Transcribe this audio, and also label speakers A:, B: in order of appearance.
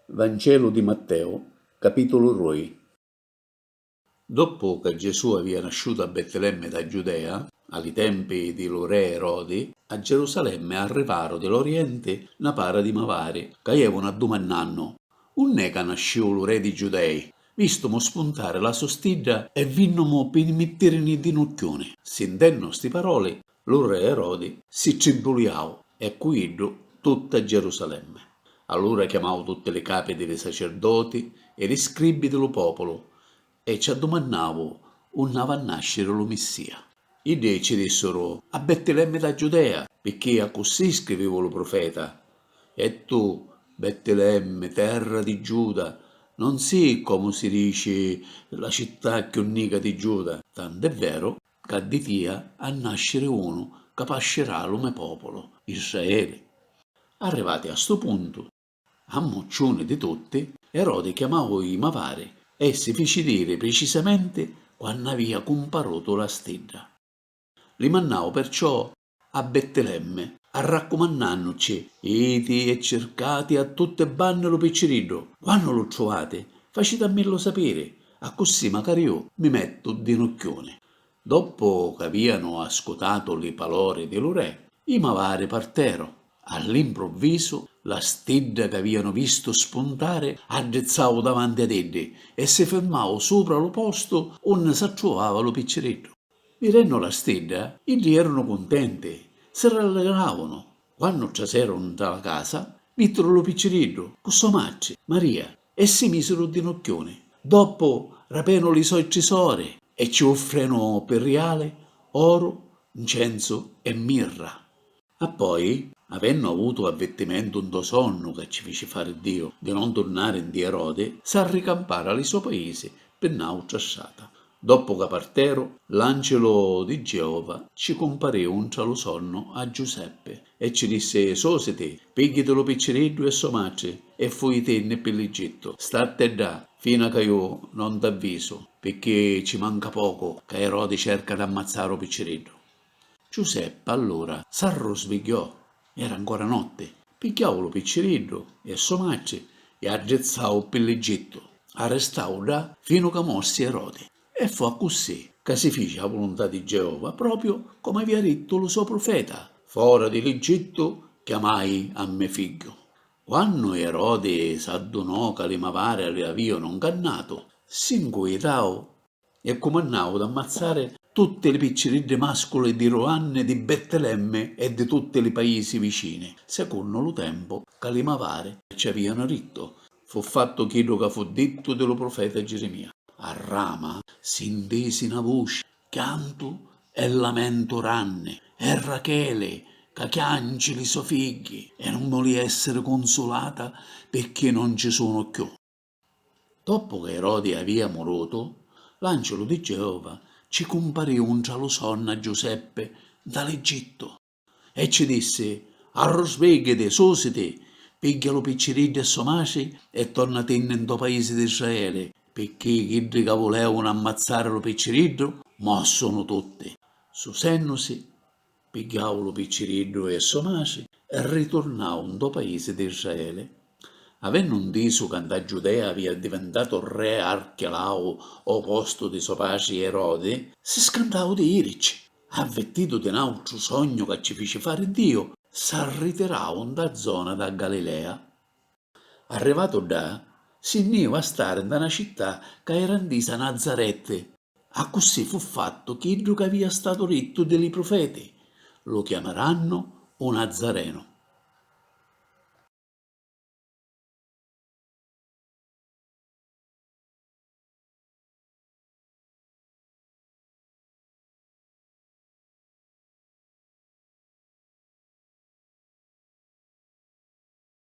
A: Vancelu di Matteu, capitulu roi. Doppu ca Gesù avia nasciutu a Bettilemmi dâ Giudea, a li tempi di lu re Erodi, a Gerusalemmi arrivaru di l'Orienti na para di mavari, ca ievunu addumannannu, Unn'è ca nasciu lu re dî Giudei? Vistumu spuntari la so stidda e vinnumu pi mittìrini ddi nucchiuni. Sintennu sti paroli, Lu re Erodi si tribbuliau e cu iddu tutta Gerusalemme. Allura chiamau tutti li capi di li sacerdoti e li scribbi di lu populu e ci addumannau unni avi a nasciri lu Missia. Iddi ci dissuru, A Bettilemmi da Giudea, picchì accussì scrivivu lu prufeta, E tu, Bettilemmi, terra di Giuda, non si, comu si dici, la città cchiù nica di Giuda, tant'è veru Ca di tia ha nasciri unu ca pascirà lu me populu, Israeli. Arrivati a stu puntu, ammucciuni di tutti, Erodi chiamau i mavari e si fici diri pricisamenti quannu avia cumparutu la stidda. Li mannau perciò a Bettilemmi, arraccumannannucci, Iti e circati a tutti e banni lu picciriddu, quannu lu truvati, facitammillu sapiri, accussì macari ju mi mettu dinucchiuni. Doppu c'avianu ascutatu li palori di lu Re, i mavari parteru. All'impruvvisu, la stidda c'avianu vistu spuntari addrizzau davanti ad iddi e si firmau supra lu postu unni s'attruvava lu picciriddu. Vidennu la stidda, iddi erunu cuntenti, si rallegravunu. Quannu traseru nta la casa, vittiru lu picciriddu cu so matri, Maria, e si misiru dinucchiuni. Doppu rapenu li soi trisori e ci uffrenu pi riali, oru, ncensu e mirra. Appoi, avennu avutu avvirtimentu ntô sonnu ca ci fici fari Diu di non turnari nti Erodi, s'arricampara li so paisi pi n'autra strata. Doppu ca parteru, l'ancilu di Geova ci cumpariu ntra lu sonnu a Giuseppi e ci dissi, Sositi, pigghiiti lu picciriddu e so matri e fujitinni pi l'Egittu. Statti ddà fina ca ju non t'avvisu, pirchì ci manca pocu ca Erodi cerca d'ammazzari u picciriddu. Ciuseppa allura s'arrusvigghiò, era ancora notti, pigghiau lu picciriddu e a so matri e addrizzau pi l'Egittu, arrestau ddà finu ca morsi Erodi. E fu accussì ca si fici a vuluntà di Geova propriu comu avia dittu lu so prufeta, Fora di l'Egittu chiamai a me figghiu. Quannu Erodi s'addunò ca li mavari l'avìanu 'ncannatu, si 'ncuitau E cumannau d'ammazzari tutti li picciriddi masculi di Ruanni di Bettilemmi e di tutti li paisi vicini, secunnu lu tempu ca li mavari ci avianu dittu. Fu fattu chiddu ca fu dittu di lu prufeta Girimia. A Rama si ntisi na vuci, chiantu e lamentu ranni, e Racheli ca chianci li so figghi, e nun voli essiri cunsulata pirchì non ci sunu cchiù. Doppu ca Irodi avia murutu, l'Ancilu di Geova ci cumpariu ntra lu sonnu a Giuseppi nta l'Egittu, e ci dissi, Arrusbigghiiti, susiti, pigghia lu picciriddu e so matri e tornatinni nto paisi di Israeli, picchì chiddi ca vulevunu ammazzari lu picciriddu, mo sunu tutti. Susennusi Pigghiau lu picciriddu e so matri riturnau ntô paisi d'Israeli. Avennu ntisu ca nta Giudea avia addivintatu re Archelau ô postu di so patri Erodi, si scantau di jirici. Avvirtitu di n'àutru sognu ca ci fici fari Diu, s'arritirau ntâ zona dâ Galilea. Arrivatu ddà, si nn'iu a stari nta na città ca era ntisa Nazaretti. Accussì fu fattu chiddu ca avia statu dittu di li prufeti, Lu chiamarannu u Nazarenu.